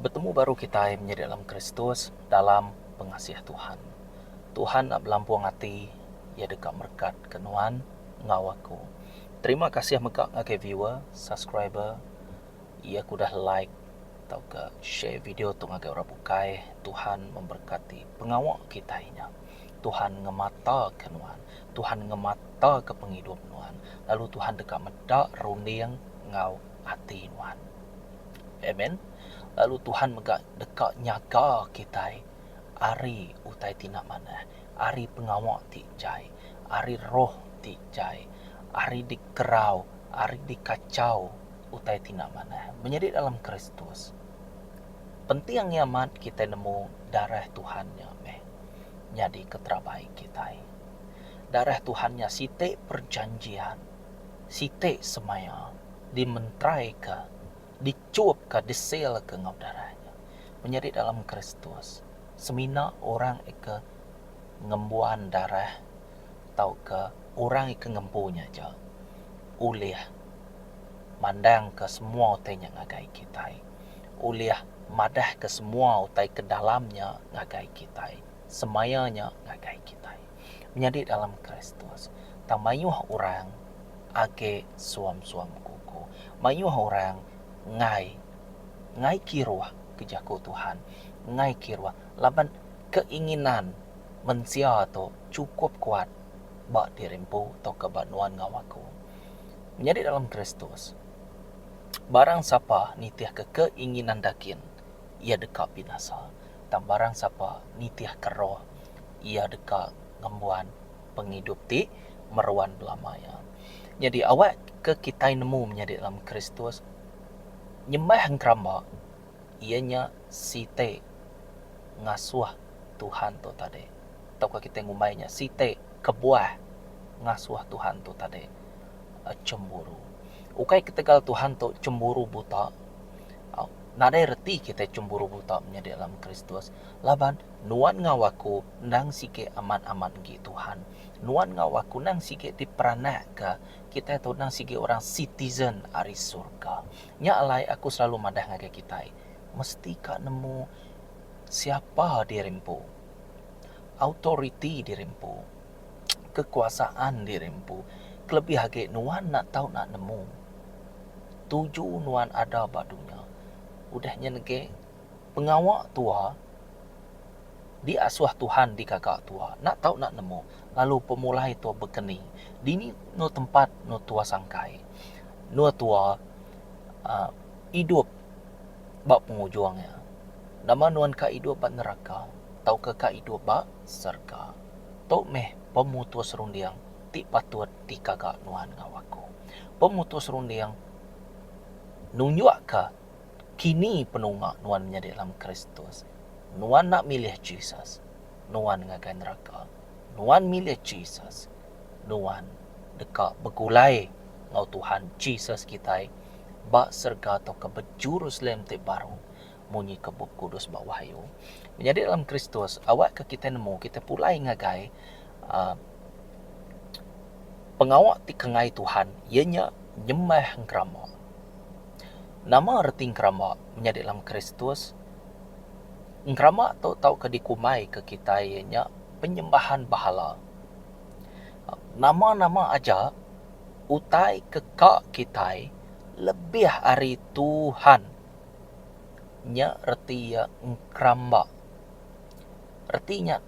Betemu baru kitai menyadi alam Kristus dalam pengasih Tuhan. Tuhan enda belampung ati, Iya deka merekatka nuan enggau aku. Terima kasih mega ngagai viewer, subscriber iya ke udah like tauka share video tu ngagai orang bukai. Tuhan memberkati pengawa kitai nya. Tuhan ngemataka nuan. Tuhan ngemataka pengidup nuan, lalu Tuhan deka meda runding enggau ati nuan. Amen. Lalu Tuhan mega deka nyaga kitai ari utai ti enda manah, ari pengawa ti jai, ari roh ti jai, ari dikerau, ari dikachau utai ti enda manah. Menyadi dalam Kristus, penting amat kitai nemu darah Tuhan nya meh nyadi keterabai kitai. Darah Tuhan nya siti perjanjian, siti semaya dimentraika, dichupka, disealka enggau darah nya. Menyadi dalam Kristus, semina orang ke ngembuan darah tauka orang ke ngempu nya aja ulih mandangka semua utai nya ngagai kitai, ulih madahka semua utai ke dalam nya ngagai kitai. Semaya nya ngagai kitai menyadi dalam Kristus, tang mayuh orang agi suam-suam kuku. Mayuh orang enggai enggai kiruh ke jaku Tuhan, enggai kiruh laban keinginan mensia tu chukup kuat ba diri empu tauka ba nuan enggau aku. Menyadi dalam Kristus, barang sapa nitihka keinginan daging. iya deka binasa, tang barang sapa nitihka roh, iya deka ngembuan pengidup ti meruan belama iya. Nyadi awak ke kitai nemu menyadi dalam Kristus, nyembah ngeramba iya nya siti ngasuh Tuhan tu tadi tauka kitai ngumbai nya siti kebuah ngasuh Tuhan tu tadi chemburu. Ukai ketegal Tuhan tu chemburu buta, Au, nadai reti kitai chemburu buta menyadi alam Kristus, laban nuan enggau aku endang sigi amat-amat enggi Tuhan. Nuan enggau aku endang sigi diperanakka, kitai tu endang sigi orang sitizen ari surga. Nya alai aku selalu madah ngagai kitai, mesti ka nemu siapa diri empu, autoriti diri empu. kekuasaan diri empu kelebih agi nuan enda tau nak nemu tuju nuan ada ba dunya udah nyen agi pengawa tua di asuh tuhan di gaga tua enda tau nak nemu lalu pemulai tua bekeni dini eno tempat eno tua sangkai eno tua aaa idup ba pengujung iya nama nuan ka idup ba neraka tauka ka idup ba serega. Tu meh pemutus runding ti patut dikaga nuan enggau aku. Pemutus runding nunjukka kini penunga nuan menyadi dalam Kristus. Nuan enda milih Jesus, nuan ngagai neraka. Nuan milih Jesus, nuan deka begulai enggau Tuhan Jesus kitai ba serega tauka ba Jerusalem ti baru, Munyi ke Bup Kudus ba Wahyu, menyadi dalam Kristus, awakka kitai nemu kitai pulai ngagai pengawa ti kengai Tuhan, iya nya nyembah engkeramba. Nama reti engkeramba menyadi dalam Kristus? Engkeramba tu tauka dikumaika kitai iya nya penyembahan bahala. Nama-nama aja utai ke ka kitai lebih ari Tuhan. Nya reti iya engkeramba. Reti nya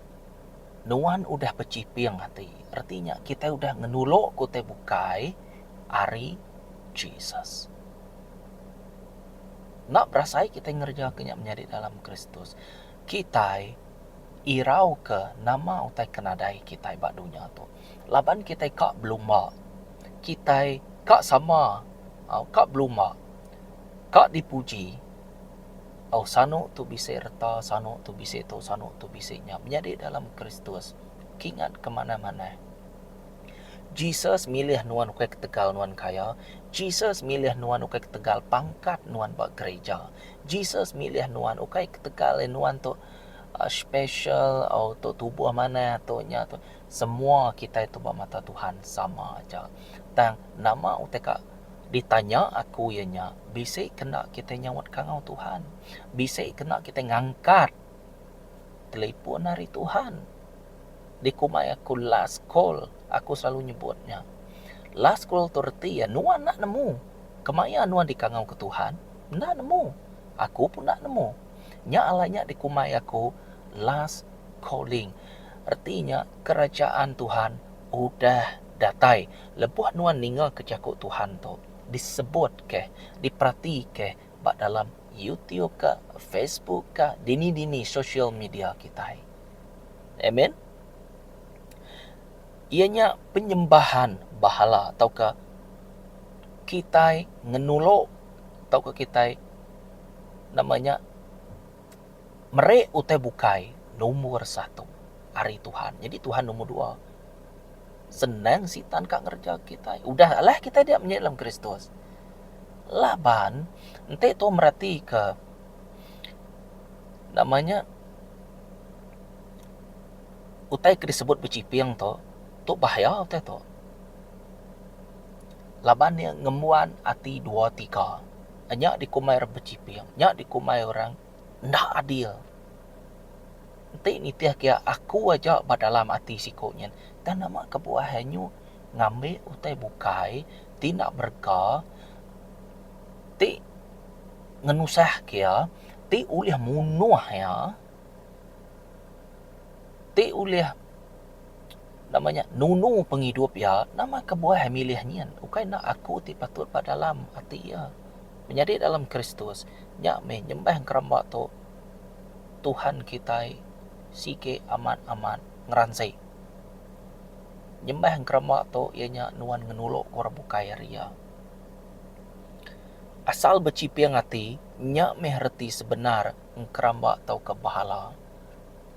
nuan udah bechiping ati. Reti nya kitai udah ngenulokka utai bukai ari Jesus. Enda berasai agi kitai ngereja nya menyadi dalam Kristus. Kitai irauka nama utai ke nadai kitai ba dunya tu. Laban kitai ka belumba. Kitai ka sama. Au ka belumba. Ka dipuji. Au sanu tu bisi reta sanu tu bisi tu sanu tu bisi nya menyadi dalam Kristus kingat ke manah-manah. Jesus milih nuan ukai ketegal nuan kaya, Jesus milih nuan ukai ketegal pangkat nuan ba gerija, Jesus milih nuan ukai ketegal nuan tu special au tu tubuh manah tu nya tu. Semua kitai tu ba mata Tuhan sama aja. Tang nama utai ka. Ditanya aku iya nya, bisi kena kitai nyaut kangau Tuhan? Bisi kena kitai ngangkat telipun ari Tuhan? Dikumbai aku last call, aku selalu nyebut nya. Last call tu reti iya nuan enda nemu. Kemaya nuan dikangauka Tuhan, enda nemu. Aku pun enda nemu. Nya alai nya dikumbai aku last calling. Reti nya kerajaan Tuhan udah datai. Lebuh nuan ningaka jaku Tuhan tu disebutka, diperatika ba dalam YouTube ka, Facebook ka, dini-dini sosial media kitai. Amen. Iya nya penyembahan bahala tauka kitai ngenulu tauka kitai nama nya meri utai bukai nombor satu ari Tuhan. Nyadi Tuhan nombor dua. Senang Sitan ka ngereja kitai. Udah alah kitai dia menyit lem Kristus. Laban, enti tu meratika nama nya utai ke disebut bechiping tu, tu bahaya utai tu. Laban iya ngembuan ati dua tiga. Nya dikumbai orang bechiping, nya dikumbai orang enda adil. Enti nitih kia aku aja ba dalam ati siko nyin tang nama kebuah anyu ngambi utai bukai ti enda berega ti ngenusah kia ti ulih munuh iya ti ulih nama nya nunu pengidup iya nama kebuah milih nyin ukai enda aku ti patut ba dalam ati iya menyadi dalam kristus nya meh nyembah ngeremba tu Tuhan kitai sigi amat-amat ngeransi. Nyembah ngeremba tu iya nya nuan ngenuluk orang bukai ari iya. Asal bechiping ati nya meh reti sebenar ngeremba tauka behala.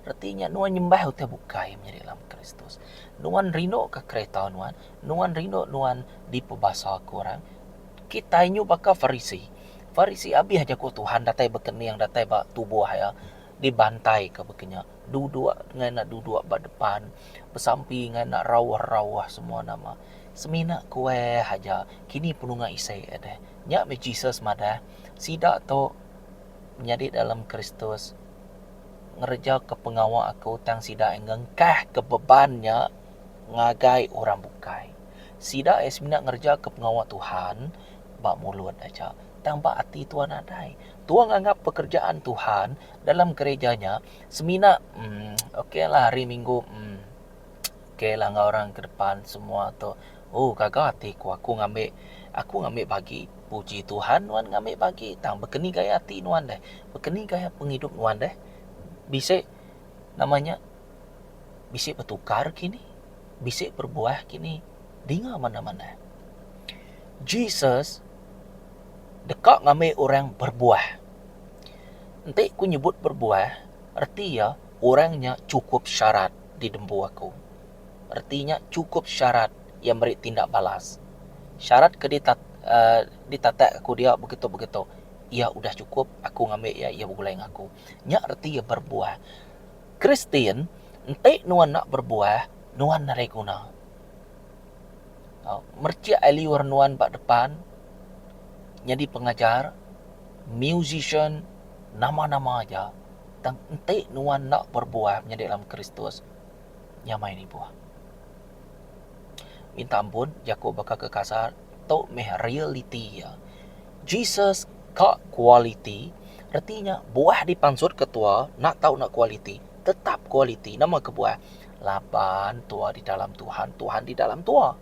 Reti nya nuan nyembah utai bukai menyadi lama Kristus. Nuan rinduka kereta nuan, nuan rindu nuan dipebasa ke orang. Kitai nyuh baka Farisi. Farisi abih jaku Tuhan datai bekening datai ba tubuh iya, dibantaika bekenya, duduk ngai enda duduk ba depan, besampi ngai enda rauh-rauh semua nama. Semina kueh aja kini penunga isi iya deh. Nya meh Jesus madah, Sida tu menyadi dalam Kristus ngerejaka pengawa aku tang sida ai ngengkahka beban nya ngagai orang bukai. Sida ai semina ngerejaka pengawa Tuhan ba mulut aja, tang ba ati tua nadai. Tua nganggap pekerjaan Tuhan dalam gereja nya semina emm oklah hari minggu emm oklah enggau orang ke depan semua tu. Oh gaga ati ku aku ngambi aku ngambi bagi puji Tuhan nuan ngambi bagi tang baka ni gaya ati nuan deh, baka ni gaya pengidup nuan deh bisi nama nya bisi betukar kini, bisi berubah kini dinga manah-manah. Jesus deka ngambi orang berbuah. Enti aku nyebut berbuah, reti iya orang nya chukup syarat di tembu aku. Reti nya chukup syarat iya meri tindak balas. Syarat ke ditatak aku dia begitu-begitu iya udah chukup aku ngambi iya, iya begulai ngan aku. Nya reti iya berbuah. Kristian enti nuan enda berbuah nuan arai guna. merchik ai liur nuan ba depan nyadi pengajar, musician, nama-nama aja tang enti nuan enda berbuah menyadi dalam Kristus, nya mai ni buah. Minta ampun jaku baka ke kasar, tu meh realiti iya. Jesus ka kualiti, reti nya buah dipansutka tua enda tau enda kualiti, tetap kualiti. Nama kebuah? Laban tua di dalam Tuhan, Tuhan di dalam tua.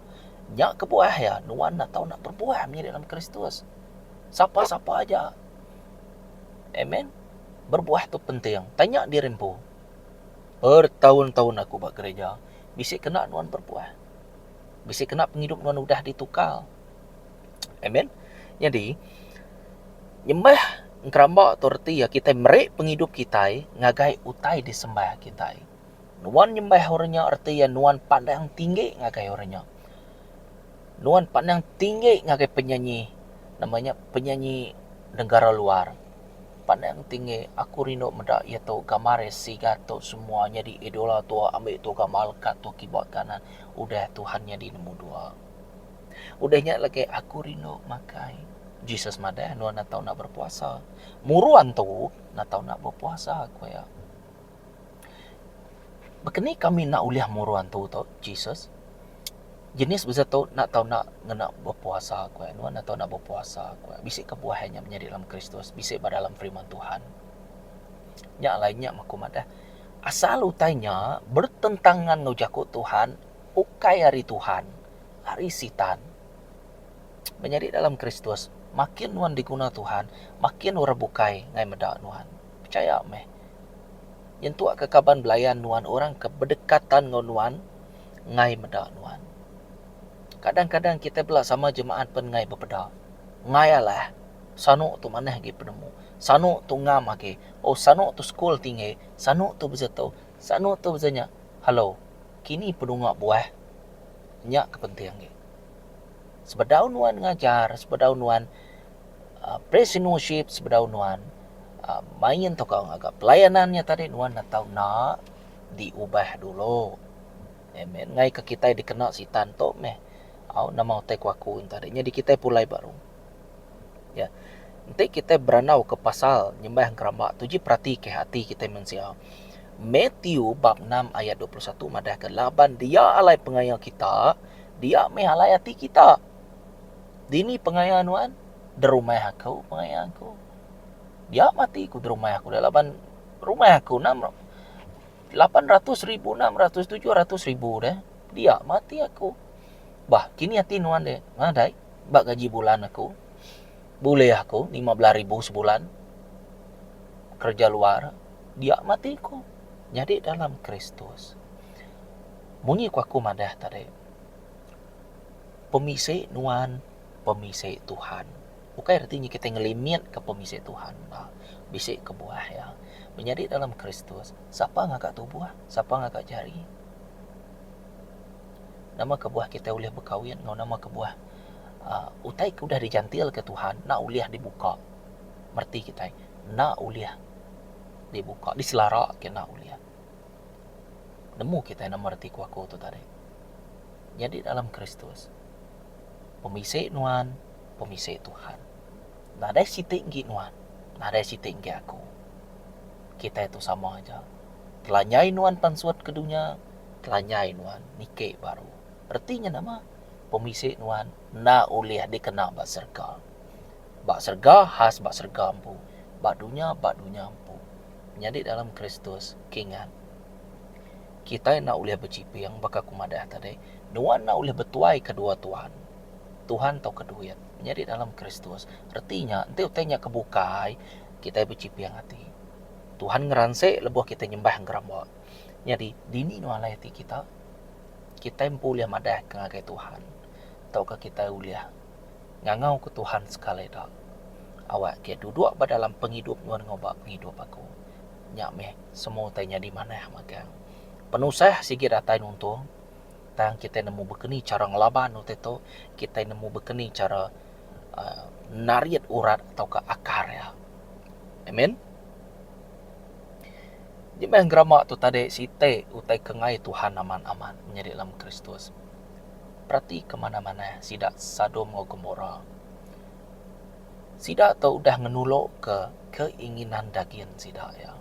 Nya kebuah iya, nuan enda tau enda berbuah meh di dalam Kristus. Sapa-sapa aja. Amen. Berbuah tu penting. Tanya diri empu. Bertahun-tahun aku ba gereja, bisi kena nuan berbuah? Bisi kena pengidup nuan udah ditukar? Amen. Nyadi, nyembah ngeramba tu reti iya kitai meri pengidup kitai ngagai utai disembah kitai. Nuan nyembah orang nya reti iya nuan pandang tinggi ngagai orang nya. Nuan pandang tinggi ngagai penyanyi nama nya penyanyi negara luar. Pandang tinggi aku rindu meda iya tu gambar iya sigat tu semua nyadi idola tua ambi tua gamal leka tua kiba kanan udah Tuhan nyadi nombor dua. Udah nya lagi aku rindu makai Jesus madah nuan enda tau nak berpuasa. Murun tu enda tau nak berpuasa ku iya. Baka ni kami enda ulih murun tu tu Jesus? Jenis beza tu enda tau enda ngena bepuasa ku iya. Nuan enda tau enda bepuasa ku iya. Bisi kebuah iya nya menyadi dalam Kristus, bisi ba dalam firman Tuhan. Nya alai nya aku madah asal utai nya bertentangan enggau jaku Tuhan, ukai ari Tuhan, ari Sitan. Menyadi dalam Kristus makin nuan diguna Tuhan, makin orang bukai ngai meda nuan. Pechaya meh, nyentukka kaban belayan nuan orang ke bedekatan enggau nuan enggai meda nuan. Kadang-kadang kitai bela sama jemaat pen enggai bepeda. Enggai alah, sanu tu manah agi penemu, sanu tu ngam agi, oh sanu tu sekul tinggi, sanu tu besetu, sanu tu besenya. Hello, kini penunga buah. Nya ke penting agi. Sebedau nuan ngajar, sebedau nuan. Presinuship sebedau nuan main tauka ngaga pelayanan nya tadi nuan enda tau enda diubah dulu. Amen. Ngaika kitai dikena Sitan tu meh au nama utai ku aku enti hari nyadi kitai pulai baru. Nya enti kitai berandauka pasal nyembah ngeramba tu ji peratika ati kitai mensia. Matthew bab enam ayat dua puluh satu madahka laban dia alai pengaya kita dia meh alai ati kita. Dini pengaya nuan? Derumah aku pengaya aku. Dia mati ku derumah aku dia laban rumah aku enam lapan ratus ribu enam ratus tujuh ratus ribu dia. Dia mati aku. Bah, kini ati nuan dia. Madai, ba gaji bulan aku. Bulih aku lima belah ribu sebulan. Kerja luar. Dia mati ku. Nyadi dalam Kristus. Munyi ku aku madah tadi. Pemisi nuan, pemisi Tuhan. Ukai reti nya kitai ngelimitka pemisi Tuhan. Bisi kebuah iya. Menyadi dalam Kristus, sapa ngaga tubuh, sapa ngaga jari? Nama kebuah kitai ulih bekawin enggau nama kebuah uhh utai ke udah dijantilka Tuhan enda ulih dibuka. Mereti kitai, enda ulih dibuka, diselara agi enda ulih. nemu kitai nama reti kuaku tu tadi. Nyadi dalam Kristus, pemisi nuan, pemisi Tuhan. Nadai siti enggi nuan, nadai siti enggi aku. Kitai tu sama aja. Telanjai nuan pansut ke dunya, telanjai nuan niki baru. Reti nya nama? Pemisi nuan enda ulih dikena ba serega. Ba serega khas ba serega empu, ba dunya ba dunya empu. Nyadi dalam Kristus, kingat, kitai enda ulih bechiping baka aku madah tadi, nuan enda ulih betuai ke dua tuan, Tuhan tauka duit. Nyadi dalam Kristus, reti nya enti utai nya ke bukai, kitai bechiping ati. Tuhan ngeransik lebuh kitai nyembah ngeremba. Nyadi, dini nuan alai ati kita? Kitai empu ulih madahka ngagai Tuhan tauka kitai ulih. Ngangau ku Tuhan sekali da. Awak ake duduk ba dalam pengidup nuan ngubah pengidup aku. Nya meh semu utai nyadi manah magang. Penusah sigi datai nuntung tang kitai nemu bekeni chara ngelaban utai tu kitai nemu bekeni chara uhh narit urat tauka akar iya. Amen. Nya meh gerama tu tadi siti utai kengai Tuhan amat amat nyadi dalam Kristus. Peratika manah manah sida Sadom enggau Gomora. Sida tu udah ngenulokka keinginan dagin sida iya.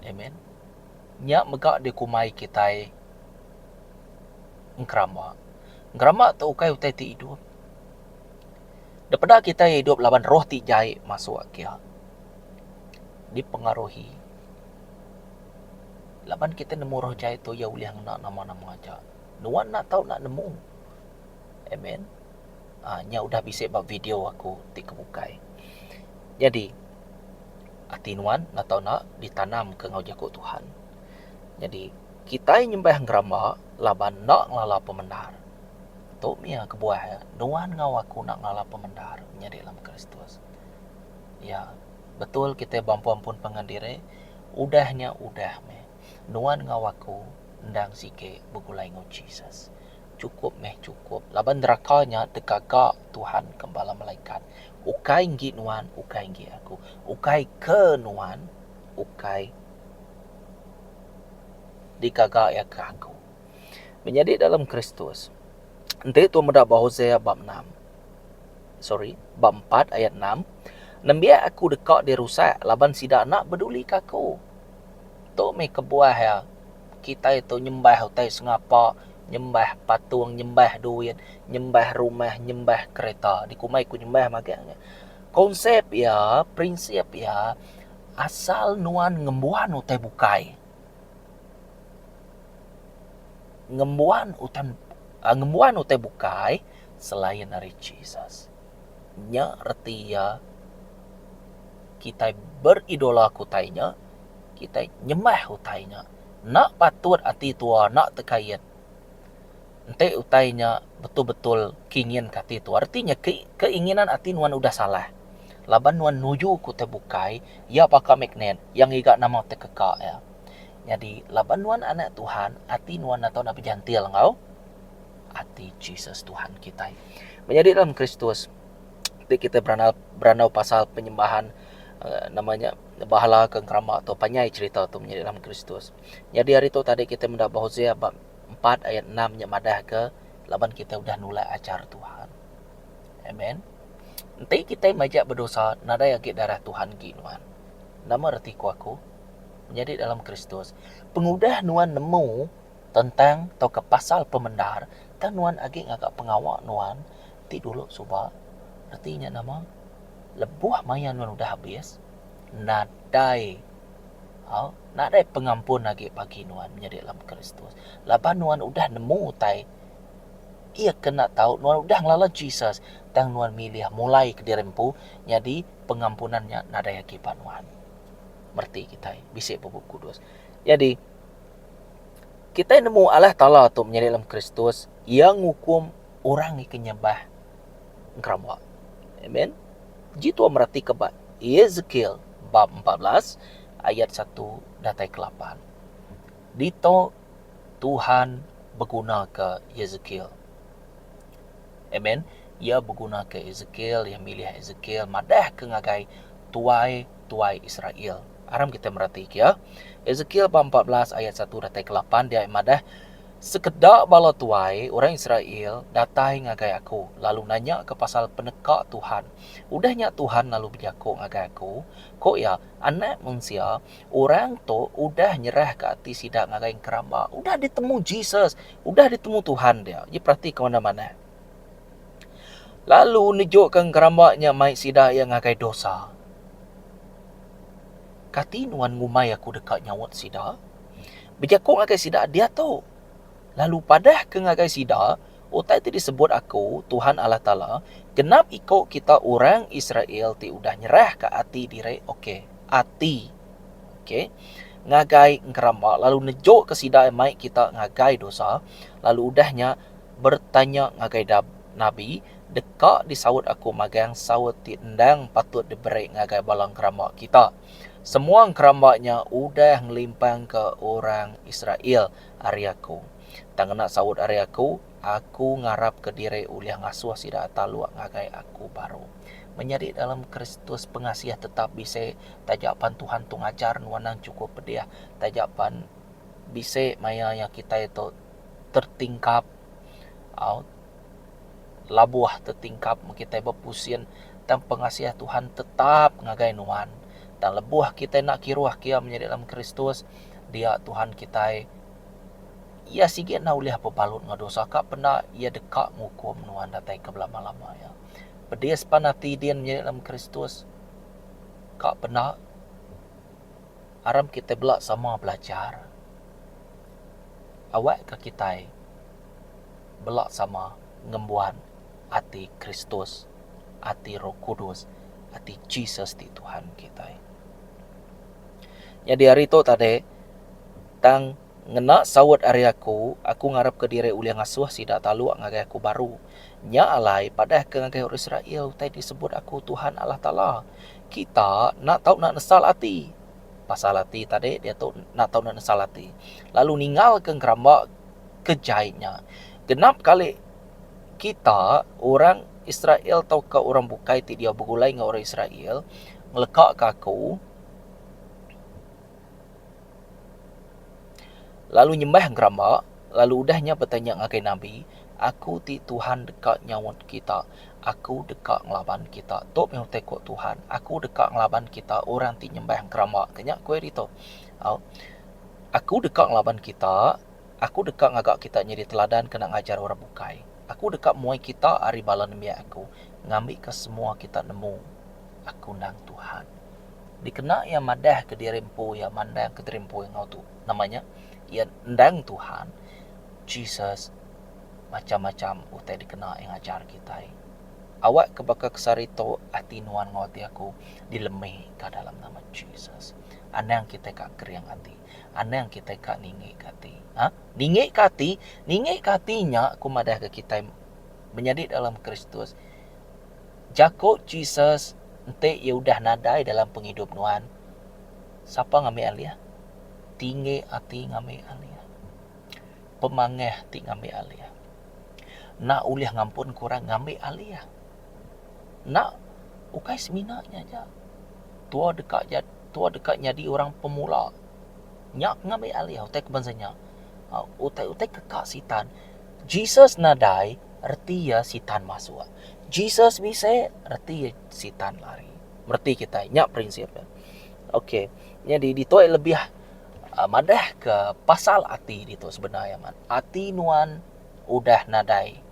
Amen. Nya mega dikumbai kitai engkeramba. Engkeramba tu ukai utai ti idup. Depeda kitai idup laban roh ti jai masuk kia. Dipengaruhi. Laban kitai nemu roh jai tu iya ulih ngena nama-nama aja. Nuan enda tau enda nemu. Amen. Ah nya udah bisi ba video aku ti ke bukai. Nyadi ati nuan enda tau enda ditanam ke enggau jaku Tuhan. Nyadi kitai nyembah ngeramba laban enda ngelala pemendar. Tu mia kebuah nuan enggau aku enda ngelala pemendar nyadi dalam Kristus. Ya. Betul kitai beampun-ampun pangan diri, udah nya udah meh. Nuan enggau aku endang sigi begulai enggau Jesus. Chukup meh chukup, laban neraka nya digaga Tuhan gembala malaikat. Ukai enggi nuan, ukai enggi aku. Ukai ke nuan, ukai digaga iya ke aku. Menyadi dalam Kristus. Enti tu meda ba Hosea bab enam. sorry bab empat ayat enam nembiak aku deka dirusak laban sida enda bedulika aku. Tu meh kebuah iya kitai tu nyembah utai sengapa, nyembah patung, nyembah duit, nyembah rumah, nyembah kereta. Dikumbai ku nyembah magang nya. Konsep iya, prinsip iya asal nuan ngembuan utai bukai. Ngembuan utai ngembuan utai bukai selain ari Jesus. Nya reti iya kitai beridola ke utai nya, kitai nyembah utai nya. Enda patut ati tua enda tekait enti utai nya betul-betul ke inginka ati tua. Reti nya ke keinginan ati nuan udah salah. Laban nuan nuju ke utai bukai, iya baka magnet, iya ngiga nama tekeka iya. Nyadi laban nuan anak Tuhan, ati nuan enda tau nak bejantil enggau. ati Jesus Tuhan kitai. Menyadi dalam Kristus ti kita berandau berandau pasal penyembahan eh, nama nya bahala ke keramba tu panjai cerita tu menyadi dalam Kristus. Jadi hari tu tadi kita menda Hosea bab 4 ayat 6 nya madah ke laban kita udah nulak ajar Tuhan. Amen. Enti kita majak berdosa nadai agi darah Tuhan gi nuan. Nama reti ku aku? Menyadi dalam Kristus. Pengudah nuan nemu Tentang tauka pasal pemendar, tang nuan agi ngaga pengawa nuan ti dulu suba, reti nya nama lebuh maya nuan udah habis nadai au nadai pengampun agi bagi nuan nyadi dalam Kristus. Laban nuan udah nemu utai iya kena tau nuan udah ngelala Jesus tang nuan milih mulai kediri empu nyadi pengampunan nya nadai agi ba nuan. Mereti kitai bisi bup Bup Kudus. Jadi. Kitai nemu Allah Taala tu menyadi dalam Kristus, Iya ngukum orang ngiken nyembah ngeramba. Amen. Ji tua meratika ba Ezekiel bab empat belas ayat satu datai ke lapan. Dito Tuhan begunaka Ezekiel. Amen. Iya begunaka Esekiel, iya milih Esekiel madahka ngagai tuai-tuai Israel. Aram kita meratika iya. Esekiel bab 14 ayat 1 datai ke 8 dia madah, Sekeda bala tuai orang Israel datai ngagai aku lalu nanyaka pasal peneka Tuhan. Udah nya Tuhan lalu bejaku ngagai aku, Ku iya, Anak mensia, orang tu udah nyerahka ati sida ngagai enkeramba. Udah ditemu Jesus, Udah ditemu Tuhan dia, iya peratika ngadan manah. Lalu nejuka ngeramba nya mai sida iya ngagai dosa. Kati nuan ngumbai aku deka nyaut sida? Bejaku ngagai sida diatu. Lalu padahka ngagai sida, Utai ti disebut aku, Tuhan Allah Taala, genap iko kita orang Israel ti udah nyerahka ati diri, okey, ati Okey. Ngagai engkeramba lalu nejoka sida iya mai kita ngagai dosa, lalu udah nya bertanya ngagai da, nabi, Deka disaut aku magang saut ti endang patut diberi ngagai bala engkeramba kita? Semua engkeramba nya udah ngelimpangka orang Israel ari aku. Tang ngena saut ari aku, Aku ngarapka diri ulih ngasuh sida taluk ngagai aku baru. Menyadi dalam Kristus pengasih tetap bisi taja pan Tuhan tu ngajar nuan endang chukup pedih taja pan bisi maya iya kitai tu tertingkap au labuh tertingkap mun kitai bepusin tang pengasih Tuhan tetap ngagai nuan. Tang lebuh kitai enda kiruh kiya menyadi dalam Kristus dia Tuhan kitai. Iya sigi enda ulih bebalut enggau dosa ka penda Iya deka ngukum nuan datai ke belama-lama iya. Pedis pan ati din menyadi dalam Kristus. Ka penda aram kitai bela sama belajar awak ka kitai bela sama ngembuan ati Kristus, ati Roh Kudus, ati Jesus ti Tuhan kitai. Nyadi ari tu tadi tang Ngena saut ari aku, aku ngarapka diri ulih ngasuh sida taluk ngagai aku baru. Nya alai, padahka ngagai orang Israel utai disebut aku Tuhan Allah Taala, Kita enda tau enda nesal ati. Pasal ati tadi diatu enda tau enda nesal ati, lalu ninggalka ngeramba ke jai nya. Genap kali kita, orang Israel tauka orang bukai ti diau begulai enggau orang Israel, ngelekaka aku, Lalu nyembah ngeramba, lalu udah nya betanya ngagai nabi, Aku ti Tuhan deka nyaut kita, aku deka ngelaban kita? Tu meh utai ku Tuhan, Aku deka ngelaban kita orang ti nyembah ngeramba ke nya ku iya ditu. Au Aku deka ngelaban kita, aku deka ngaga kita nyadi teladan kena ngajar orang bukai. Aku deka muai kita ari bala nembiak aku ngambika semua kita nemu Aku endang Tuhan. Dikena iya madahka diri empu iya mandangka diri empu iya enggau Tuhan. Nama nya? Iya endang Tuhan Jesus macham-macham utai dikena iya ngajar kitai. Awakka baka kesari tu ati nuan enggau ati aku dilembika dalam nama Jesus. Anang kitai ka kering ati. Anang kitai ka ningika ati. A. Ningika ati, ningika ati nya aku madahka kitai menyadi dalam Kristus. Jaku Jesus enti iya udah nadai dalam pengidup nuan, Sapa ngambi alih? Tinggi ati ngambi alih. Pemangah ti ngambi alih. Enda ulih ngampunka orang ngambi alih. Enda ukai semina nya aja. Tua deka tua deka nyadi orang pemula. Nya ke ngambi alih utai ke bansa nya. Utai utai ke ka sitan. Jesus nadai reti iya sitan masuk. Jesus bisi reti sitan lari. Mereti kitai nya prinsip dia. Okey. Nyadi ditu ai lebih uh, madah ke pasal ati ditu sebenar amat. Ati nuan udah nadai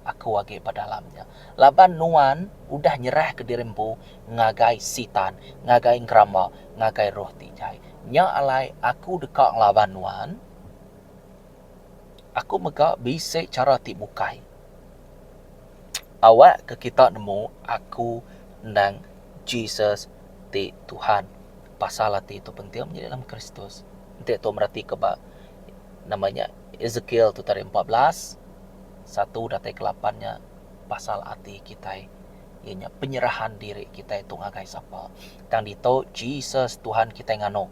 aku agi ba dalam nya. Laban nuan udah nyerah ke diri empu ngagai sitan, ngagai geramba, ngagai roh ti jai. Nya alai aku deka ngelaban nuan. Aku mega bisi chara ti bukai. Awak ke kita nemu aku endang Jesus ti Tuhan. Pasal ati tu penting menyadi dalam Kristus. Enti tu mereti ke ba nama nya Ezekiel tu tarik empat belas satu datai ke lapan nya pasal ati kitai iya nya penyerahan diri kitai tu ngagai sapa. Tang ditu Jesus Tuhan kitai nganu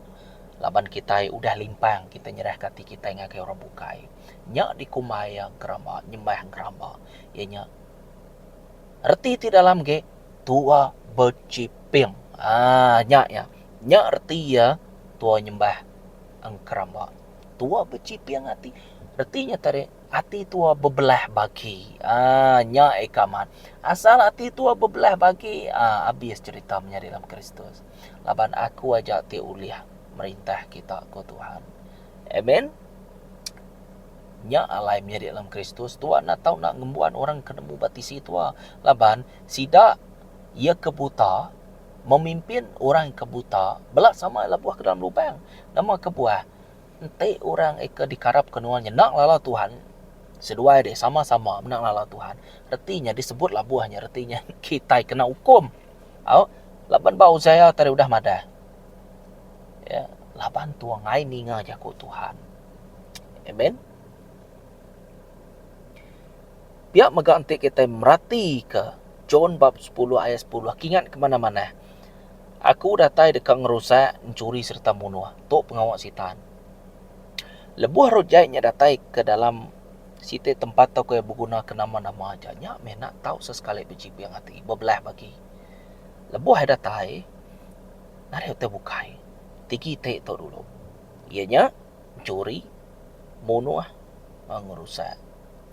Laban kitai udah limpang kitai nyerahka ati kitai ngagai orang bukai. Nya dikumbai iya gerama nyembah gerama, iya nya reti ti dalam ge tua bechiping. Aa nya iya. Nya reti iya tua nyembah gerama. Tua bechiping ati. Reti nya tadi ati tua bebelah bagi. Aa nya ika mat. Asal ati tua bebelah bagi aa abis cherita menyadi dalam Kristus. laban Aku aja ti ulih merintah kita, ku Tuhan. Amen. Nya alai menyadi dalam Kristus, tua enda tau enda ngembuan orang ke nemu ba tisi tua, laban sida iya ke buta memimpin orang ke buta bela sama iya lebuh ke dalam lubang. Nama kebuah? Enti orang ika dikarapka nuan nya enda ngelala Tuhan, seduai dih sama-sama enda ngelala Tuhan, reti nya disebut labuh nya reti nya kitai kena ukum. Au, laban ba Uziah tadi udah madah. Ya, laban tu angai ninga jaku Tuhan. Amen. Pia mega enti kita meratika John bab 10 ayat 10 aku ingat ke mana-mana. Aku datai deka ngerusak, mencuri serta munuh. Tu pengawa sitan. Lebuh roh jai nya datai ke dalam Siti tempat tau ke begunaka nama-nama aja nya meh ena tau sesekali bejiping ati bebelaih agi. Lebuh iya datai, nadai utai bukai ti gi ti tu dulu iya nya enchuri, munuh enggau ngerusak.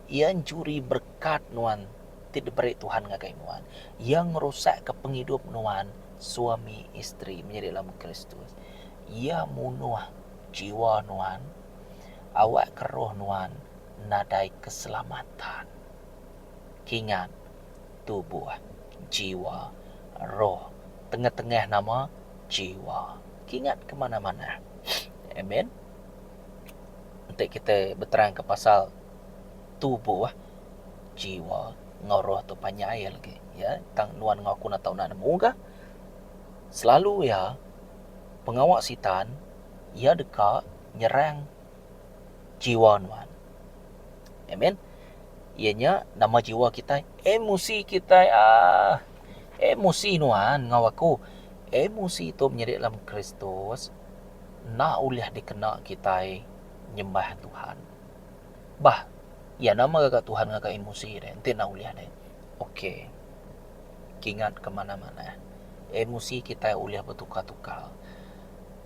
Iya enchuri berekat nuan ti diberi Tuhan ngagai nuan. Iya ngerusakka pengidup nuan suami isteri menyadi lemu Kristus. Iya munuh jiwa nuan. Awak ke roh nuan nadai keselamatan. Kingat, tubuh, jiwa, roh, tengah-tengah nama, jiwa. Kingat ke manah-manah. Amen. Enti kita beterangka pasal tubuh, jiwa, enggau roh tu panjai lagi. Ya, tang nuan enggau aku enda tau enda nemu kah? Selalu iya pengawa sitan iya deka nyerang jiwa nuan. Amen. Iya nya nama jiwa kitai? Emosi kitai ah. Emosi nuan enggau aku. Emosi tu menyadi dalam Kristus enda ulih dikena kitai nyembah Tuhan. Bah, iya nama gaga Tuhan ngaga emosi deh. Enti enda ulih deh. Okey. Kingat ke manah-manah. Emosi kitai ulih betukar-tukar.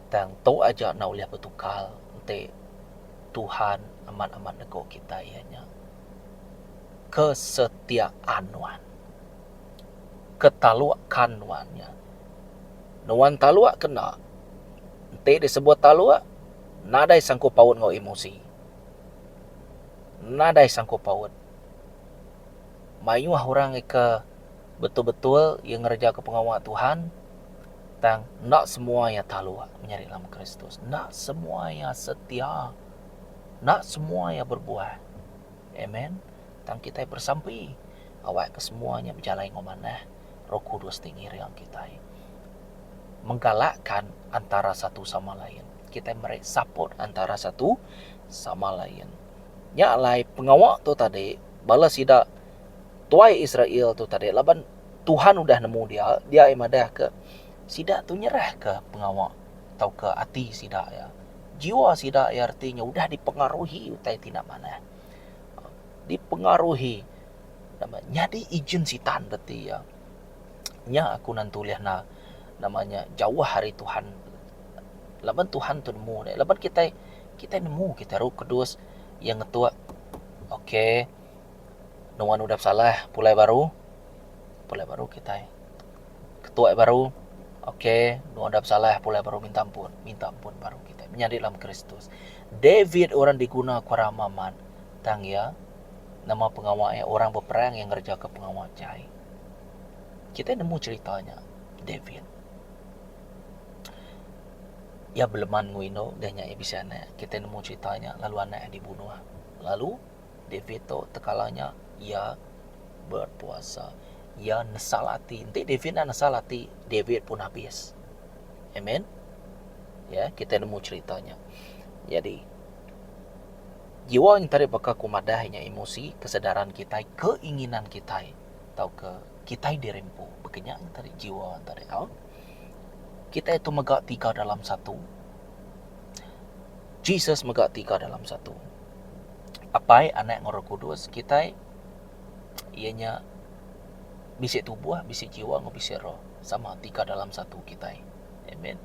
Tang tu aja enda ulih betukar enti Tuhan amat-amat nego kitai iya nya kesetiaan nuan. Ketalukkan nuan nya. Nuan taluk ke enda, enti disebut taluk, nadai sangkut paut enggau emosi. Nadai sangkut paut. Mayuh orang ika betul-betul iya ngereja ke pengawa Tuhan, Tang, enda semua iya taluk menyadi lama Kristus. Enda semua iya setia. Enda semua iya berbuah. Amen. Tang kitai bersampi awakka semua nya bejalai enggau manah. Roh Kudus ti ngiring kitai. Menggalakkan antara satu sama lain. Kitai meri support antara satu sama lain. Nya alai pengawa tu tadi bala sida tuai Israel tu tadi laban Tuhan udah nemu dia, dia ai madahka, sida tu nyerahka pengawa tauka ati sida iya. Jiwa sida iya reti nya udah dipengaruhi utai ti enda manah. Dipengaruhi nama nyadi ejen Sitan reti iya. Nya aku nan tulih enda nama nya jauh ari Tuhan. Laban Tuhan tu nemu deh. Laban kitai kitai nemu kitai Roh Kudus iya ngetuk okay. Nuan udah pesalah pulai baru, pulai baru kitai. Ketuai baru, ok nuan udah pesalah pulai baru minta ampun, minta ampun baru kitai menyadi dalam Kristus. David orang diguna ku rama mat, tang iya nama pengawa iya orang beperang iya ngereja ka pengawa jai. Kitai nemu cherita nya David. Iya beleman enggau indu dah nya iya bisi anak, kitai nemu cherita nya lalu anak iya dibunuh lalu. David tu tekala nya iya berpuasa. Iya nesal ati. Enti David enda nesal ati, David pun habis. Amen. Ya, kita nemu cerita nya. Jadi, jiwa yang tadi baka ku madah nya emosi, kesedaran kita, keinginan kita atau ke kita dirimpu. Bekenya yang tadi jiwa yang tadi. Ha? Kita itu mega tiga dalam satu. Jesus mega tiga dalam satu. Apai, Anak, enggau Roh Kudus kitai, iya nya bisi tubuh, bisi jiwa, enggau bisi roh, sama ti ka dalam satu kitai. Amen.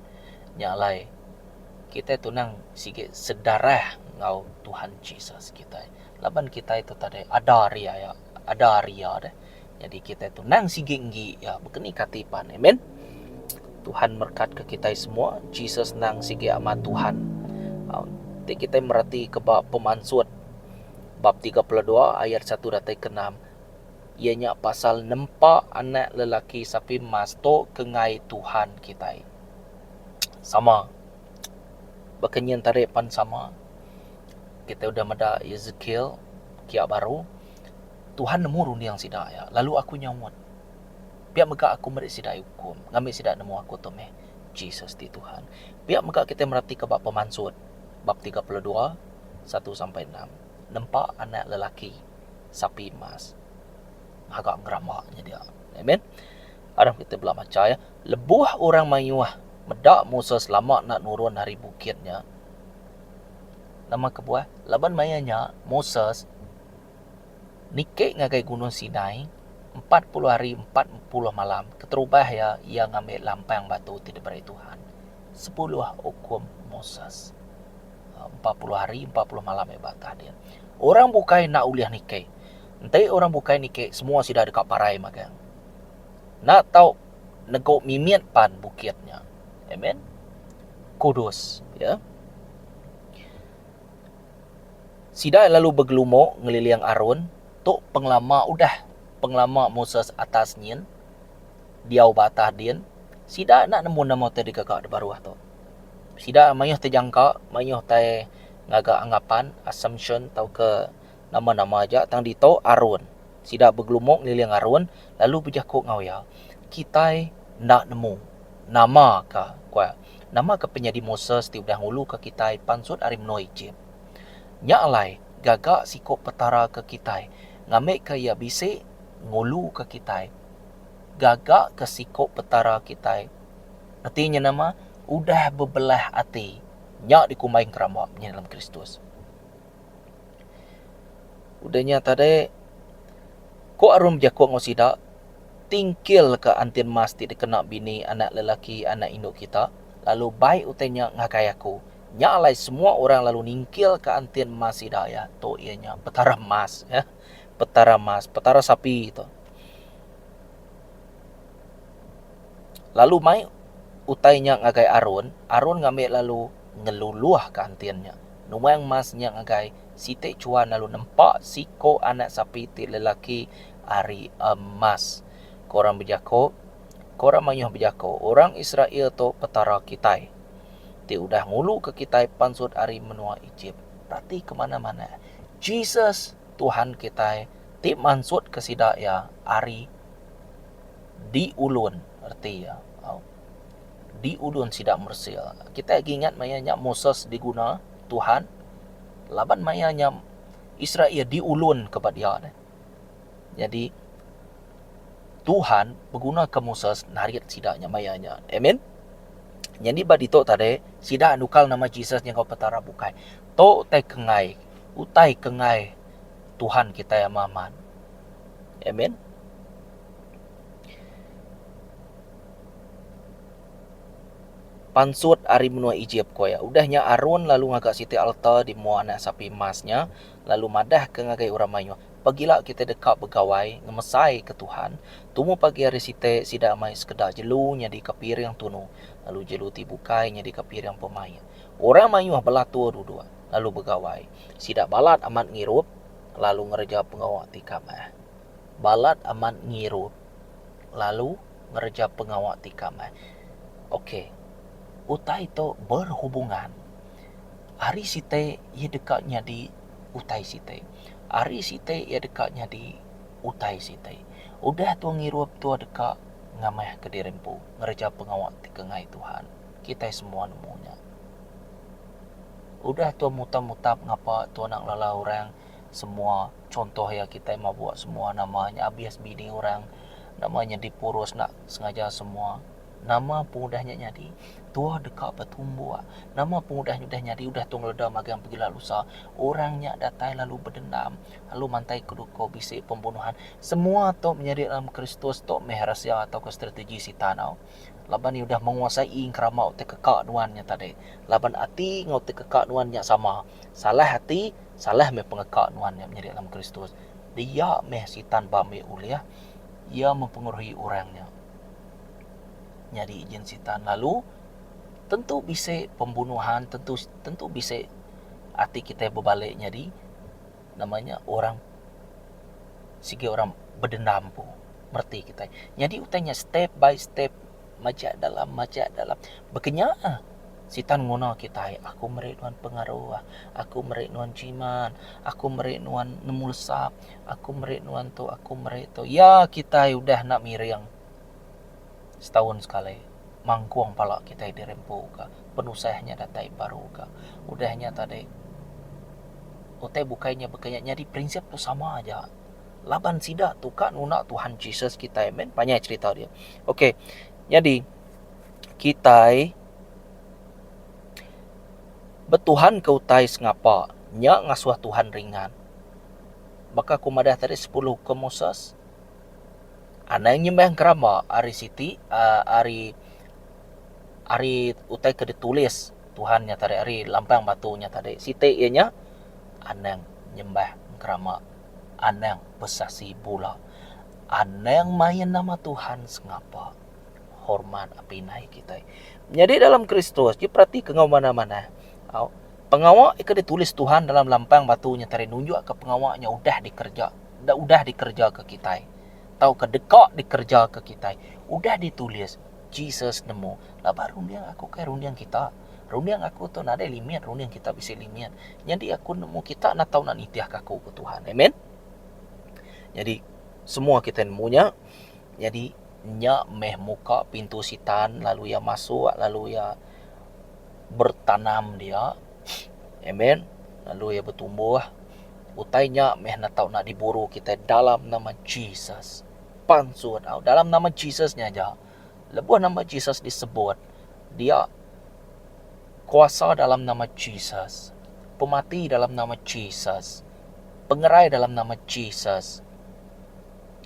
Nya alai kitai tunang sigi sedarah enggau Tuhan Jesus kitai. Laban kitai tu tadi ada ari iya, ada ari iya deh. Jadi kitai tu endang sigi enggi iya bekeni kati pan. Amen. Tuhan merkat ke kitai semua. Jesus endang sigi amat Tuhan. Um, ti kitai merati ke ba pemansut bab 32 ayat 1 datai ke 6 ia nya pasal nempa anak lelaki sapi emas tu kengai Tuhan kitai. Sama. Baka nyin tadi pan sama. Kita udah meda Ezekiel kia baru. Tuhan nemu runding sida iya, lalu aku nyaut, Pia mega aku meri sida iya ukum, ngambi sida nemu aku tu meh Jesus ti Tuhan. Pia mega kitai meratika ba Pemansut bab tiga puluh dua, satu sampai enam. Nempa anak lelaki sapi emas ngaga gerama nya dia. Amen. Aram kitai bela macha iya, Lebuh orang mayuh meda Moses lama enda nurun ari bukit nya, nama kebuah? Laban maya nya Moses. Niki ngagai Gunung Sinai, empat puluh hari empat puluh malam keterubah iya, iya ngambi lampang batu ti diberi Tuhan, sepuluh ukum Moses. Empat puluh hari empat puluh malam iya ba atas dia. Orang bukai enda ulih niki. Enti orang bukai niki, semua sida deka parai magang. Enda tau negu mimit pan bukit nya. Amen. Kudus. Ya. Sida lalu begelumuk ngeliling Aron, tu pengelama udah pengelama Moses atas nyin, diau ba atas din, sida enda nemu nama ti dikega di baruh tu. Sida mayuh tejangka, mayuh tai ngaga anggapan, assumption, tauka nama-nama aja tang ditu Aron. Sida begelumuk ngeliling Aron lalu bejaku enggau iya, Kitai enda nemu nama ka, ku iya. Nama ke penyadi Moses ti udah nguluka kitai pansut ari menua Ejip? Nya alai, gaga siku Petara ke kitai ngambika Iya bisi nguluka kitai. Gaga ke siku Petara kitai reti nya nama? Udah bebelah ati. Nya dikumbai ngeramba penyelam Kristus. Udah nya tadi, ku Arum bejaku enggau sida, tingkilka antin emas ti dikena bini anak lelaki anak indu kita, lalu bai utai nya ngagai aku. Nya alai semua orang lalu ningkilka antin emas sida iya tu iya nya Petara Emas. Petara Emas, Petara Sapi tu. Lalu mai utai nya ngagai Arun, Arun ngambi lalu ngeluluhka antin nya. Nuang Mas nya ngagai siti chuan lalu nempa siko anak sapi ti lelaki ari emas. Ko orang bejako, Ko orang mayuh bejako, Orang Israel tu Petara kitai, ti udah nguluka kitai pansut ari menua Ejip. Perati ke mana-mana. Jesus, Tuhan kitai, ti mansutka sida iya ari di ulun, reti iya. di udon sida Mesir. Kitai agi ingat maya nya Moses diguna Tuhan laban maya nya Israel diulunka ba dia deh. Nyadi Tuhan begunaka Moses narit sida nya maya nya. Amen. Nyadi ba ditu tadi sida nukal nama Jesus nya enggau Petara bukai. Tu utai kengai, utai kengai Tuhan kitai amat aman. Amen. Pansut ari menua Ejip, ku iya. Udah nya Aron lalu ngaga siti alta di mua anak sapi emas nya, lalu madahka ngagai orang mayuh, Pagila kitai deka begawai ngemesaika Tuhan, tumu pagi hari siti sida mai sekeda jelu nyadika piring tunu, lalu jelu ti bukai nyadika piring pemaik. Orang mayuh belatur duduk, lalu begawai. Sida balat amat ngirup, lalu ngereja pengawa ti kamah. Balat amat ngirup. lalu ngereja pengawa ti ika meh. Ok, utai tu berhubungan. Hari siti iya deka nyadi utai siti. Hari siti iya deka nyadi utai siti. Udah tua ngirup tua deka ngamahka diri empu ngereja pengawa ti ika ngai Tuhan. Kitai semua nemu nya. Udah tua mutap-mutap ngapa tua enda ngelala orang Semua contoh iya kitai mabuk semua nama nya abis bini orang nama nya dipurus enda sengaja semua nama pun udah nya nyadi tuah deka betumbuk nama pun udah nya nyadi udah tu ngeleda magang pegila lusa orang nya datai lalu bedendam lalu mantai ke duko bisi pembunuhan semua tu menyadi dalam kristus tu meh rahsia atau ko strategi sitan tau laban iya udah menguasai engerama utai keka nuan nya tadi laban ati enggau utai keka nuan nya sama salah ati Salah meh pengeka nuan nya menyadi alam Kristus. Dia meh Sitan ba ambi ulih iya mempengeruhi orang nya. Nyadi ijin Sitan lalu tentu bisi pembunuhan, tentu tentu bisi ati kitai bebali nyadi nama nya orang sigi orang bedendam empu mereti kitai. Nyadi utai nya step by step. Majak dalam majak dalam. Bekenya ah. Sitan nguna kitai. Aku meri nuan pengaruh. Aku meri nuan jiman. Aku meri nuan nemu lesap. Aku meri nuan tu aku meri tu. Ya kitai udah enda miring. Setaun sekali mangkung pala kitai dirempu ka. Penusah nya datai baru ka. Udah nya tadi utai bukai nya bekenya nyadi prinsip tu sama aja. laban sida tu ka nuna Tuhan Jesus kitai meh panjai cerita dia. Okey. Nyadi kitai betuhan ke utai sengapa nya ngasuh Tuhan ringan. Baka ku madah tadi sepuluh hukum Moses anang nyembah ngerama ari siti uh, ari ari utai ke ditulis Tuhan nya tadi ari lampang batu nya tadi. Siti iya nya anang nyembah ngerama. Anang besaksi bula. Anang main nama Tuhan sengapa. Hormat pinai kitai. Menyadi dalam Kristus ti peratika enggau manah-manah. Pengawa ke ditulis Tuhan dalam lampang batu nya tadi nunjukka pengawa nya udah dikereja udah dikerejaka kitai tauka deka dikerejaka kitai. Udah ditulis Jesus nemu. Laban runding aku kai runding kita. Runding aku tu nadai limit, runding kita bisi limit. Nyadi aku nemu kita enda tau nak nitihka aku, ku Tuhan. Amen. Nyadi semua kita nemu nya. Nyadi nya meh muka pintu Sitan lalu iya masuk lalu iya bertanam dia. Amen. Lalu iya betumbuh. Utai nya meh enda tau nak diburu kita dalam nama Jesus. Pansut au dalam nama Jesus nya aja. Lebuh nama Jesus disebut, dia Kuasa dalam nama Jesus, pemati dalam nama Jesus, pengerai dalam nama Jesus,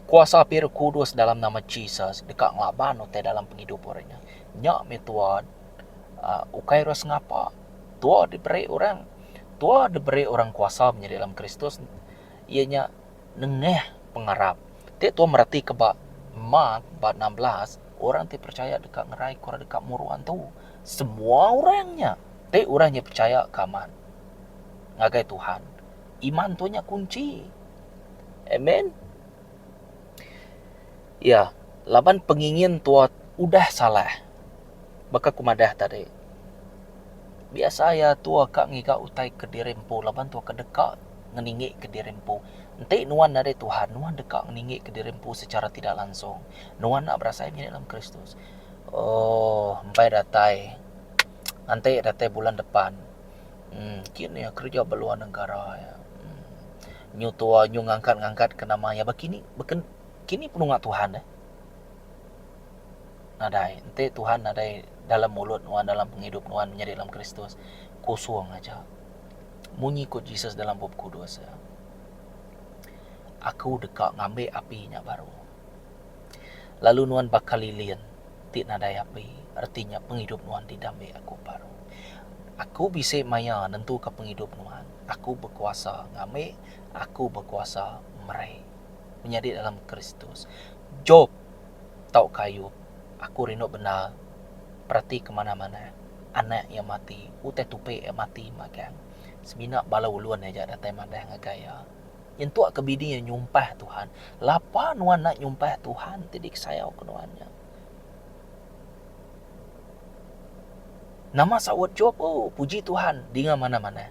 kuasa api Roh Kudus dalam nama Jesus deka ngelaban utai dalam pengidup orang nya. Nya meh tua uhh ukai ras ngapa. Tua diberi orang, tua diberi orang kuasa menyadi dalam Kristus iya nya. Nengah pengarap ti tuan meratika ba Mat bab enam belas, orang ti percaya deka ngerai ku orang deka muruan tu. Semua orang nya ti orang nya percaya ke amat ngagai Tuhan. Iman tu nya kunchi. Amen. Ya, laban pengingin tua udah salah. Baka ku madah tadi, biasa iya tua ka ngiga utai kediri empu laban tua ka deka ngeningika diri empu. Enti nuan ari Tuhan, nuan deka ngeningika diri empu secara tidak langsung. Nuan enda berasai menyadi dalam Kristus. Ooh, empai datai. Enti datai bulan depan. Uhh, kini iya kereja ba luar negara iya. Nyu tua, nyu ngangkat-ngangkatka nama iya. Ba kini, ba kini penunga Tuhan eh. Nadai, enti Tuhan nadai dalam mulut nuan dalam pengidup nuan menyadi dalam Kristus, kosong aja. Munyi ku Jesus dalam Bup Kudus, Aku deka ngambi api nya baru. Lalu nuan baka lilin ti nadai api, reti nya pengidup nuan didambi Aku baru. Aku bisi maya nentuka pengidup nuan. Aku bekuasa ngambi, Aku bekuasa meri. Menyadi dalam Kristus. Job tauka ayu aku rindu bendar perati ke manah manah anak iya mati utai tupi iya mati magang semina bala ulun aja datai madah ngagai iya nyentuk ke bini iya nyumpah tuhan lapa nuan enda nyumpah tuhan ti disayau ke nuan nya nama saut job o puji tuhan dinga manah manah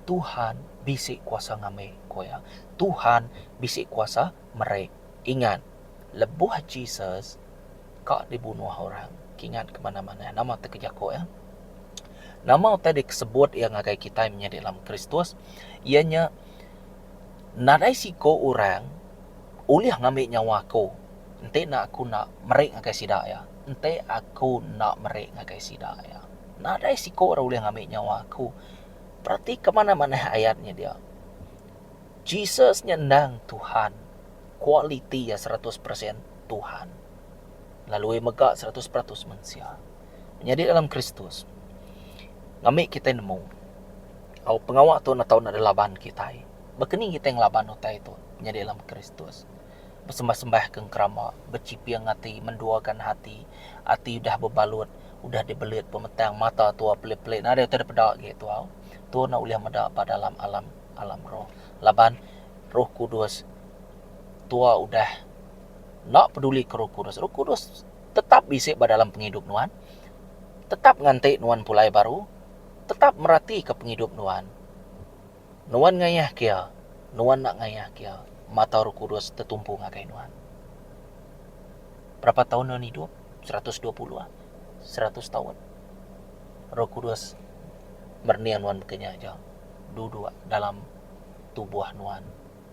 tuhan bisi kuasa ngambi ku iya tuhan bisi kuasa meri ingat. lebuh Jesus ka dibunuh orang, kingat ke manah-manah nama ti ke jaku iya? Nama utai dikesebut iya ngagai kitai menyadi dalam Kristus? Iya nya nadai siko orang ulih ngambi nyawa aku enti enda aku enda meri ngagai sida iya. Enti aku enda meri ngagai sida iya. Nadai siko orang ulih ngambi nyawa aku. Peratika manah-manah ayat nya dia. Jesus nya endang Tuhan. Kualiti iya seratus persen Tuhan lalu mega seratus peratus mensia. Menyadi dalam Kristus ngambi kitai nemu au pengawa tu netau nadai laban kitai. Baka ni kitai ngelaban utai tu menyadi dalam Kristus? Besembah-sembah ke ngerama, bechiping ati, menduakan hati, ati udah bebalut, udah dibelit pemetang, mata tua pelit-pelit nadai utai dipeda agi tuau. Tu enda ulih meda ba dalam alam alam roh laban roh kudus tua udah enda peduli ke roh kudus roh kudus tetap bisi ba dalam pengidup nuan tetap nganti nuan pulai baru tetap meratika pengidup nuan nuan ngayah ke iya nuan enda ngayah ke iya mata roh kudus tetumpu ngagai nuan berapa taun nuan idup seratus dua puluh ah. seratus taun. Roh Kudus merniang nuan baka nya aja. Duduk dalam tubuh nuan,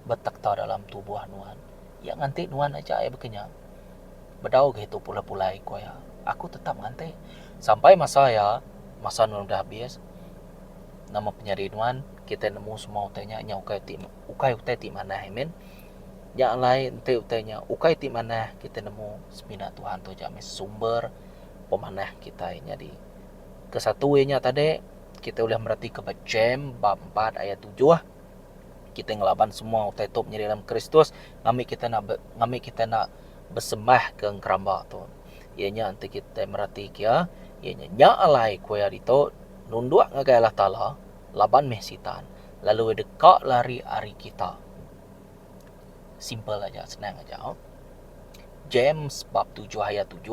betekta dalam tubuh nuan. Iya nganti nuan aja ai baka nya. Bedau ga itu pulai-pulai ku iya. Aku tetap nganti sampai masa iya, masa nuan udah habis. Nama penyadi nuan, kitai nemu semua utai nya, nya ukai ti ukai utai ti manah ai min. Nya alai enti utai nya ukai ti manah kitai nemu semina Tuhan tu aja mih sumber pemanah kitai nyadi. Ke satu iya nya tadi kitai ulih meratika ba Jem bab empat ayat tujuh kitai ngelaban semua utai tu menyadi dalam Kristus ngambi kitai enda ngambi kitai enda besemah ke ngeramba tu. Iya nya enti kitai meratika iya iya nya nya alai ku iya ditu nunduk ngagai Allah Taala laban mih Sitan lalu iya deka lari ari kita. simple aja senang aja oh. James bab 7 ayat 7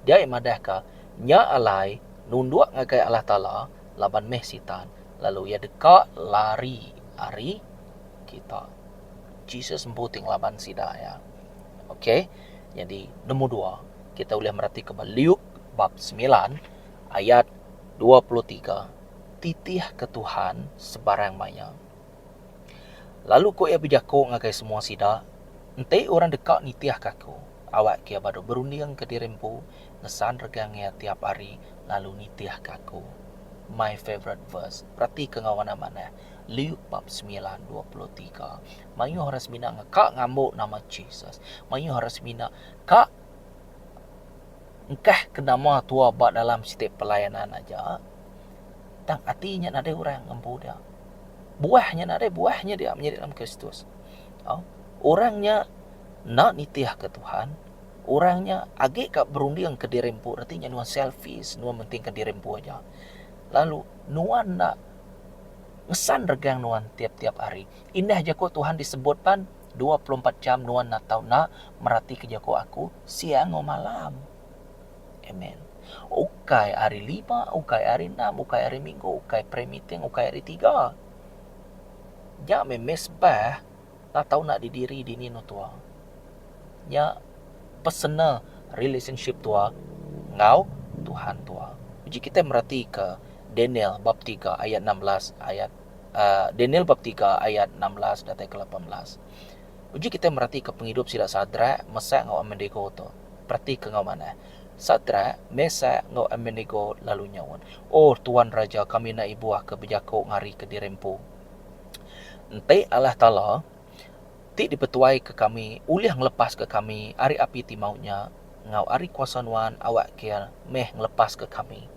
dia madahka nya alai nunduk ngagai Allah Taala laban meh sitan lalu iya deka lari ari kita. Jesus empu ti ngelaban sida ya. Okey. Jadi nombor dua, kita ulih merati ke Luke bab 9 ayat 23. Titih ke Tuhan sebarang maya. Lalu ku iya bejaku ngagai semua sida, Enti orang deka nitihka aku, awakka iya badu berundingka diri empu ngesan regang iya tiap hari lalu nitihka aku. My favourite verse. Peratika enggau anak manah. Luke bab semilan dua puluh tiga. Mayuh orang semina ka ngambu nama Jesus. Mayuh orang semina ka engkahka nama Tua ba dalam siti pelayanan aja. Tang ati nya nadai orang ngempu dia. Buah nya nadai buah nya dia menyadi dalam Kristus. Au, orang nya enda nitihka Tuhan, orang nya agi ka berunding ke diri empu reti nya nuan selfish, nuan mentingka diri empu aja. Lalu nuan enda ngesan regang nuan tiap-tiap hari. Indah jaku Tuhan disebut pan, dua puluh empat jam nuan enda tau enda meratika jaku aku siang enggau malam. Amen. Ukai hari lima, ukai hari enam, ukai hari minggu, ukai prayer meeting, ukai hari tiga. Nya meh mesbah enda tau enda didiri dini anu tua. Nya personal relationship tua enggau Tuhan tua. Uji kitai meratika Daniel bab tiga ayat enam belas ayat uh, Daniel bab tiga ayat enam belas datai ke lapan belas. Uji kitai meratika pengidup sida Sadrak, Mesak enggau Abednego tu. Perati ke enggau manah. Sadrak, Mesak, enggau Abednego lalu nyaut, Oh, Tuan Raja, kami enda ibuh ke bejako ngari ke diri empu. Enti Allah Taala, ti dipetuaika kami, ulih ngelepaska kami ari api ti maut nya, enggau ari kuasa nuan, awak kir meh ngelepaska kami,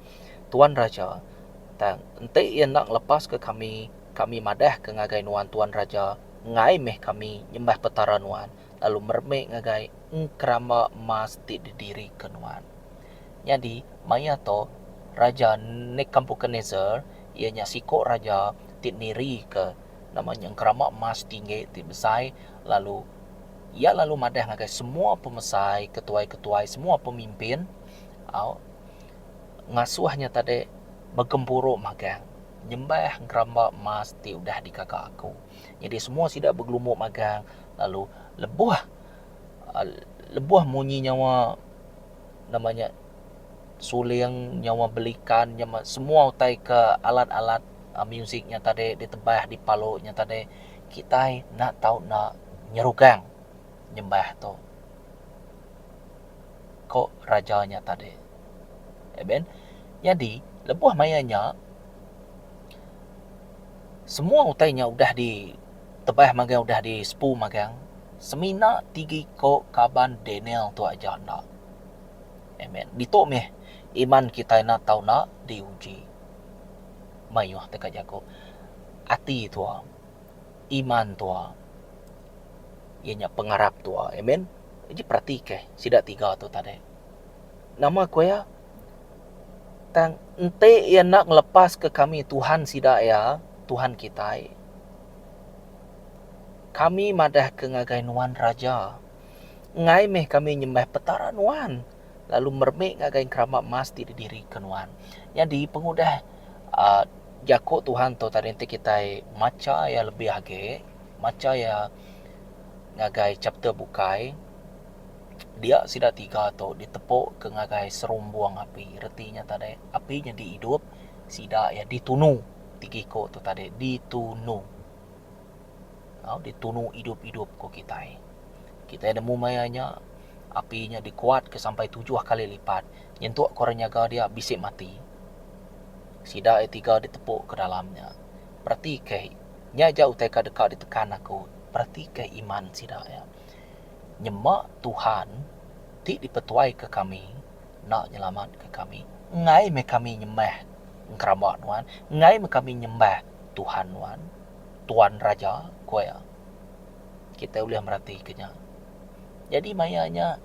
Tuan Raja. Tang, enti Iya enda ngelepaska kami, kami madahka ngagai nuan, Tuan Raja, enggai meh kami nyembah petara nuan, lalu meremik ngagai engkeramba emas ti didirika nuan. Nyadi, maya tu, Raja Nekampukaneser, iya nya siku raja ti nirika nama nya engkeramba emas tinggi ti besai, lalu iya lalu madah ngagai semua pemesai, ketuai-ketuai, semua pemimpin, au, ngasuh nya tadi begempuru magang nyembah engkeramba emas ti udah digaga aku. Nyadi semua sida begelumbuk magang lalu lebuh lebuh munyi nyawa nama nya suling nyawa belikan nyawa semua utai ke alat-alat muzik nya tadi ditebah dipalu nya tadi kitai enda tau enda nyerugang nyembah tu ko raja nya tadi. Nyadi lebuh maya nya Semua utai nya udah di tebah magang udah di sepu magang semina tigi ko kaban Daniel tu aja enda. Amen. Ditu meh iman kitai enda tau enda di uji. Mayuh teka jaku ati tua iman tua iya nya pengarap tua. Amen. Ji perati ke sida tiga tu tadi. Nama ko iya? Tang enti iya enda ngelepaska kami Tuhan sida iya, Tuhan kitai, kami madahka ngagai nuan raja, enggai meh kami nyembah petara nuan lalu meremik ngagai engerama emas ti didirika nuan. Nyadi pengudah a jaku Tuhan tu tadi enti kitai macha iya lebih agi, macha iya ngagai chapter bukai, Dia sida tiga tu ditepuka ngagai serumbung api, reti nya tadi api nyadi idup, sida iya ditunu, tiga iku tu tadi ditunu. Au ditunu idup-idup ku kitai. Kitai nemu maya nya api nya dikuatka sampai tujuh kali lipat nyentuk ke orang nyaga dia bisi mati. Sida iya tiga ditepuka ke dalam nya. Peratikah, nya aja utai ka deka ditekan aku, peratikah iman sida iya. Nyema Tuhan ti dipetuaika kami enda nyelamatka kami. Enggai meh kami nyembah engkeramba nuan, enggai meh kami nyembah tuhan nuan, tuan raja, ku iya. Kitai ulih meratika nya. Nyadi maya nya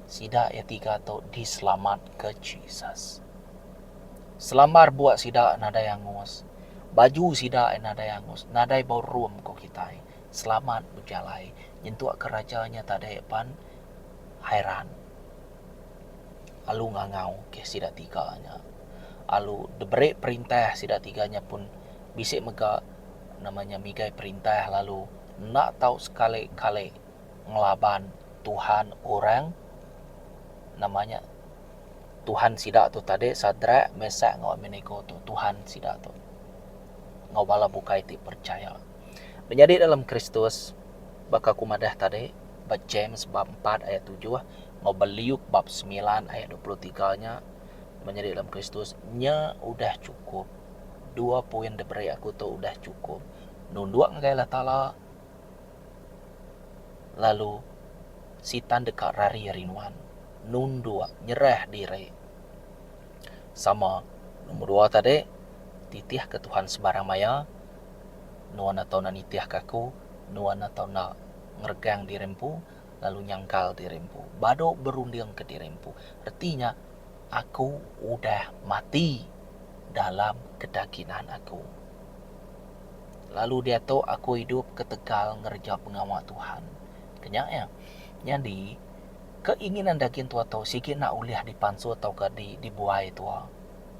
sida iya tiga tu diselamatka Jesus. Selambar bua sida nadai angus. Baju sida nadai angus, nadai bau rum ku kitai. selamat bejalai nyentuk ke raja nya tadi pan Hairan lalu ngangau ke sida tiga nya lalu diberi perintah sida tiga nya pun bisi mega nama nya migai perintah lalu enda tau sekali kali ngelaban Tuhan orang nama nya Tuhan sida tu tadi Sadrak Mesach enggau Abednego tu Tuhan sida tu enggau bala bukai ti percaya. Menyadi dalam Kristus, baka aku madah tadi ba James bab empat ayat tujuh enggau ba Luke bab semilan ayat dua puluh tiga nya, menyadi dalam Kristus nya udah chukup. Dua poin da beri aku tu udah chukup. Nunduk ngagai Allah Taala lalu sitan deka rari ari nuan. Nunduk, nyerah diri. Sama nombor dua tadi titih ke Tuhan sebarang maya nuan atau enda nitih ke aku nuan atau enda ngeregang diri empu lalu nyangkal diri empu badu berunding ke diri empu reti nya aku udah mati dalam kedakinan aku lalu diatu aku idup ketegal ngereja pengawa Tuhan ke nya iya nyadi Keinginan dagin tua tu sigi enda ulih dipansu tauka di dibuai tua.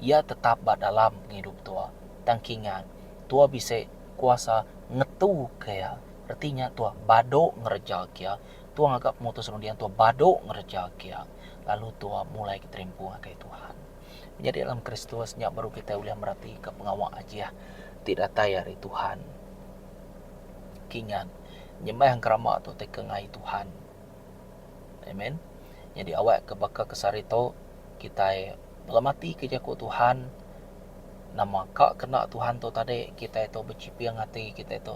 Iya tetap ba dalam pengidup tua. Tang kingat, tua bisi kuasa ngetuka iya. Reti nya tua badu ngereja ke iya. Tua ngaga pemutus runding tua badu ngereja ke iya. Lalu tua mulai keterimpu ngagai Tuhan. Menyadi dalam Kristus nya baru kitai ulih meratika pengawa Ajih ti datai ari Tuhan. Kingat, nyembah enggau rama tu ti ke ngai Tuhan. Amen. Nyadi awak ke baka ke sehari tu kitai ngelamati ke jaku Tuhan nama ka kena Tuhan tu tadi kitai tu bechiping ati kitai tu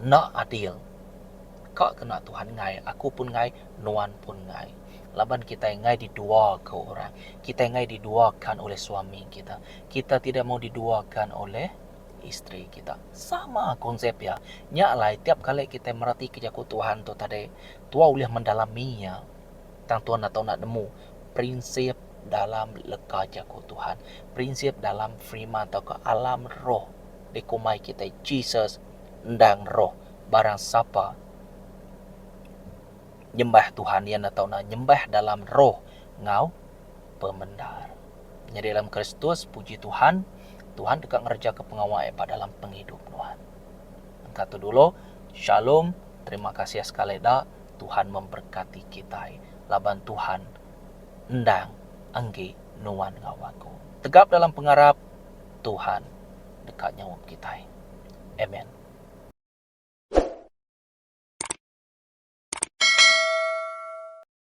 enda adil. Ka kena Tuhan ngai aku pun ngai nuan pun ngai. Laban kitai ngai diduakan orang. Kitai ngai diduakan oleh suami kita. Kita tidak mau diduakan oleh. isteri kita. Sama konsep iya. Nya alai tiap kali kitai meratika jaku Tuhan tu tadi, tuai ulih mendalami iya tang tuan enda tau enda nemu prinsip dalam leka jaku Tuhan, prinsip dalam firman tauka alam roh dikumbai kitai Jesus endang roh. Barang sapa nyembah Tuhan iya enda tau enda nyembah dalam roh enggau. pemendar. Nyadi dalam Kristus, puji Tuhan, Tuhan deka ngerejaka pengawa iya ba dalam pengidup nuan. Engka tu dulu, Shalom, terima kasih sekali da, Tuhan memberkati kitai laban Tuhan endang enggi nuan enggau aku. Tegap dalam pengarap, Tuhan deka nyaup kitai. Amen.